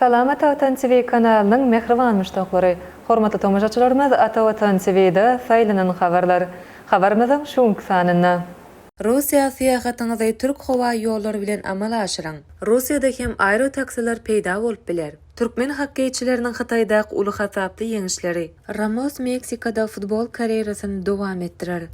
Salama Tawtan TV kanalynyň mähriban muşdaklary! Hormatly tomaşaçylarymyz Atawatan TV-da saýlanan habarlar. Habarymyzyň şu günki sanynda. Russiýa syýahatyňyzy Türk howa ýollary bilen amala aşyryň! Russiýada hem aerotaksiler peýda bolup biler. Türkmen hokkeýçileriniň Hytaýdaky uly hasaply ýeňişleri. Ramos Meksikada futbol karýerasyny dowam etdirer.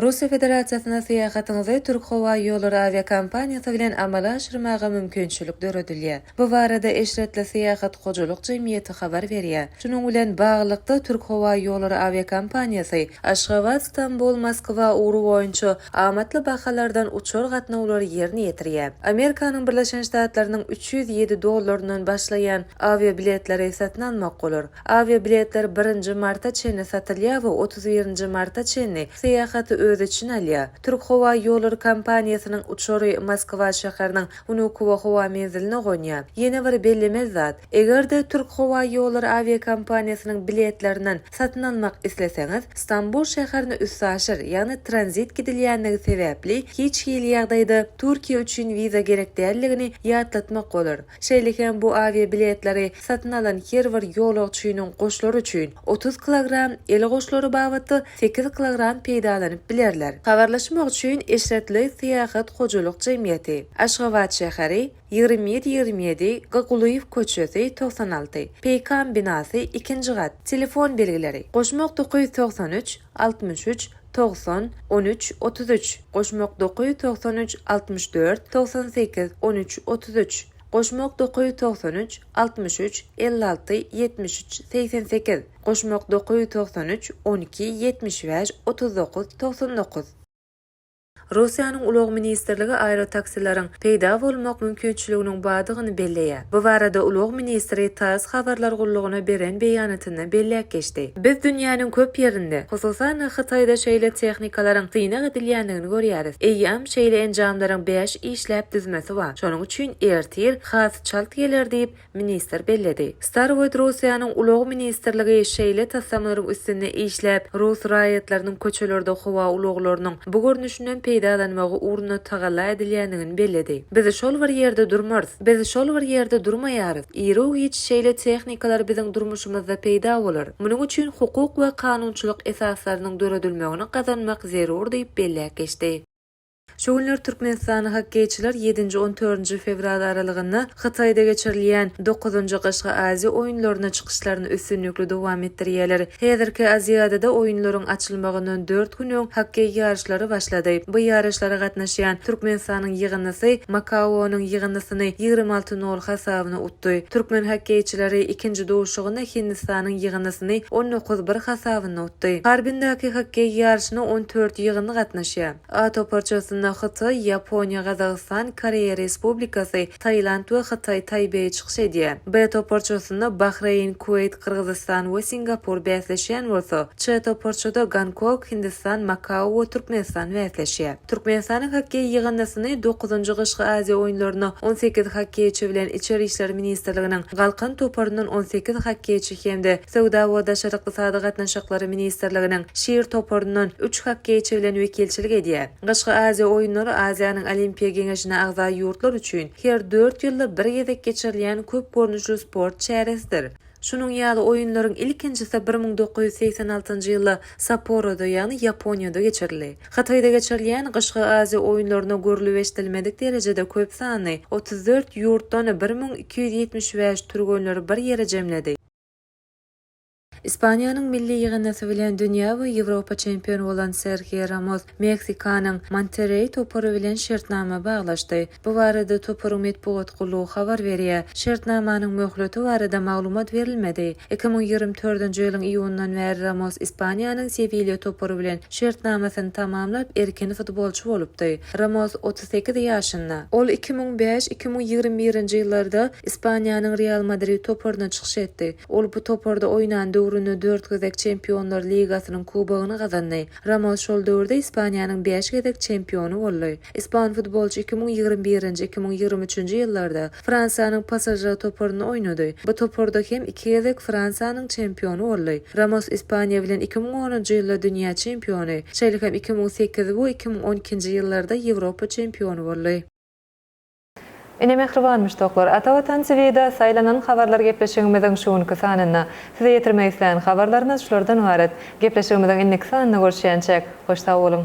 Russiýa Federasiýasyna syýahatyňyzy Türkhowaýollary awiakompaniýasy bilen amala aşyrmaga mümkinçilik döredilýär. Bu barada Eşretli Syýahat hojalyk jemgyýeti habar berýär. Şunuň bilen baglylykda, Türkhowaýollary awiakompaniýasy Aşgabat, Stambul, Moskwa ugry boýunça amatly bahalardan uçar gatnawlary ýerine ýetirýär. Amerikanyň Birleşen Ştatlarynyň üç ýüz ýedi dollaryndan başlaýan awiabiletleri satyn almak bolar. Awiabiletler birinji marta çenli satylýar we otuz birinji marta çenli syýahaty öz içine alýar. Türkhowaýollary kompaniýasynyň uçary Moskwa şäheriniň Wnukowo howa menziline gonýar. Ýene bir bellemeli zat, Eger-de Türkhowaýollary awiakompaniýasynyň biletlerinden satyn almak isleseňiz, Stambul şäherine üstaşyr, ýagny tranzit gidilýändigi sebäpli, hiç hili ýagdaýda Türkiýe üçin wiza gerek däldigini ýatlatmak bolar. Şeýle hem bu awiabiletleri satyn alan her bir ýolagçynyň goşlary üçin otuz kilogram, el goşlary babatda sekiz kilogram peýdalanyp bilerler. Habarlaşmak üçin Eşretli Syýahat hojalyk jemgyýeti, Aşgabat şäheri, Ýigrimi ýedi ýigrimi ýedi, G. Gulyýew köçesi, togsan alty, Peýkam binasy, ikinji gat, Telefon belgileri, goşmak dokuz ýüz togsan üç, altmyş üç, togsan, on üç, otuz üç, goşmak dokuz ýüz togsan üç, altmyş dört, togsan sekiz, on üç, otuz üç, goşmak dokuz ýüz togsan üç, altmyş üç, elli alty, ýetmiş üç, segsen sekiz, goşmak dokuz ýüz togsan üç, on iki, ýetmiş bäş, otuz dokuz, togsan dokuz. Russiýanyň ulag ministrligi aerotaksileriň peýda bolmak mümkinçiliginiň bardygyny belleýär. Bu barada ulag ministri tass habarlar gullugyna beren beýanatynda belläp geçdi. Biz dünýäniň köp ýerinde, hususan-da Hytaýda şeýle tehnikalaryň synag edilýändigini görýäris. Eýýäm şeýle enjamlaryň bäş işläp düzmesi bar. Şonuň üçin ertir has çalt geler diýip, ministr belledi. Starwood Russiýanyň Ulag ministrligi şeýle taslamalaryň üstünde işläp, rus raýatlarynyň köçelerde howa ulaglarynyň bu görnüşinden peýdalanmagy ugrunda tagalla edilýändigini belledi. Biz şol bir ýerde durmarys. Biz şol bir ýerde durmaýarys. Iru-giç şeýle tehnikalar biziň durmuşymyzda peýda bolar. Munuň üçin hukuk we kanunçylyk esaslarynyň döredilmegini gazanmak zerur diýip belläp geçdi. Şu günler türkmenistanly hokkeýçiler ýedinji, on dördünji fewral aralygynda Hytaýda geçirilýän dokuzynjy Gyşky Aziýa oýunlaryna çykyşlaryny üstünlikli dowam etdirýärler. Häzirki Aziadada oýunlaryň açylmagyndan dört gün öň hokkeý ýaryşlary başlady. Bu ýaryşlara gatnaşýan Türkmenistanyň ýygyndysy Makaonyň ýygyndysyny ýigrimi alty nol hasabyna utdy. Türkmen hokkeýçileri ikinji duşuşygynda Hindistanyň ýygyndysyny on dokuz bir hasabynda utdy. Harbindaky hokkeý ýaryşyna on dört ýygyndy gatnaşýar. A toparçasynda Hytaý, Ýaponiýa, Gazagystan, Koreýa Respublikasy, Tailand we Hytaý Taýbeýi çykyş edýär. B toparçasynda Bahreýn, Kuweýt, Gyrgyzystan we Singapur bäsleşýän bolsa, Ç toparçada Gonkog, Hindistan, Makao we Türkmenistan bäsleşýär. Türkmenistanyň hokkeý ýygyndysyny dokuzynjy Gyşky Aziýa oýunlaryna on sekiz hokkeýçi bilen Içeri işler ministrliginiň Galkan toparyndan on sekiz hokkeýçi hem-de Söwda we daşary ykdysady gatnaşyklary ministrliginiň Şir toparyndan üç hokkeýçi bilen wekilçilik edýär. Gyşky Aziýa oýunlary Aziýanyň Olimpiýa geňeşine agza ýurtlar üçin her dört ýylda bir gezek geçirilýän köp görnüşli sport çäresidir. Şunuň ýaly oýunlaryň ilkinjisi bir müň dokuz ýüz segsen altynjy ýylda Sapporoda, ýagny Ýaponiýada geçirildi. Hytaýda geçirilýän Gyşky Aziýa oýunlaryna görlüp-eşidilmedik derejede köp sanly, otuz dört ýurtdan bir müň iki ýüz ýetmiş bäş türgenleri bir ýere jemledi. Ispaniýanyň milli ýygyndysy bilen dünýä we Ýewropa çempiony bolan Serhio Ramos Meksikanyň Monterreý topary bilen şertnama baglaşdy. Bu barada toparyň metbugat gullugy habar berýär. Şertnamanyň möhleti barada maglumat berilmedi. Iki müň ýigrimi dördünji ýylyň iýunyndan bäri Ramos Ispaniýanyň Sewilýa topary bilen şertnamasyny tamamlap, erkin futbolçy bolupdy. Ramos altmyş sekiz ýaşynda. Ol iki müň bäş, iki müň ýigrimi birinji ýyllarda Ispaniýanyň Real Madrid toparyna çykyş etdi. Ol bu toparda oýnan döwründe dört gezek Çempionlar ligasynyň kubogyny gazandy. Ramos şol döwürde Ispaniýanyň bäş gezek çempiony boldy. Ispan futbolçy iki müň ýigrimi birinji, iki müň ýigrimi üçünji ýyllarda Fransiýanyň PSŽ toparynda oýnady. Bu toparda hem iki gezek Fransiýanyň çempiony boldy. Ramos Ispaniýa bilen iki müň onunjy ýylda dünýä çempiony, şeýle hem iki müň sekiz we iki müň on ikinji ýyllarda Ýewropa çempiony boldy. Ine mähriban muşdaklar, Ata Watan TV-de saýlanan habarlar gepleşigimiziň şu günki sanynda. Size ýetirmek isleýän habarlarymyz şulardan ybarat. Gepleşigimiziň indiki sanynda görüşýänçäk, hoş sag boluň!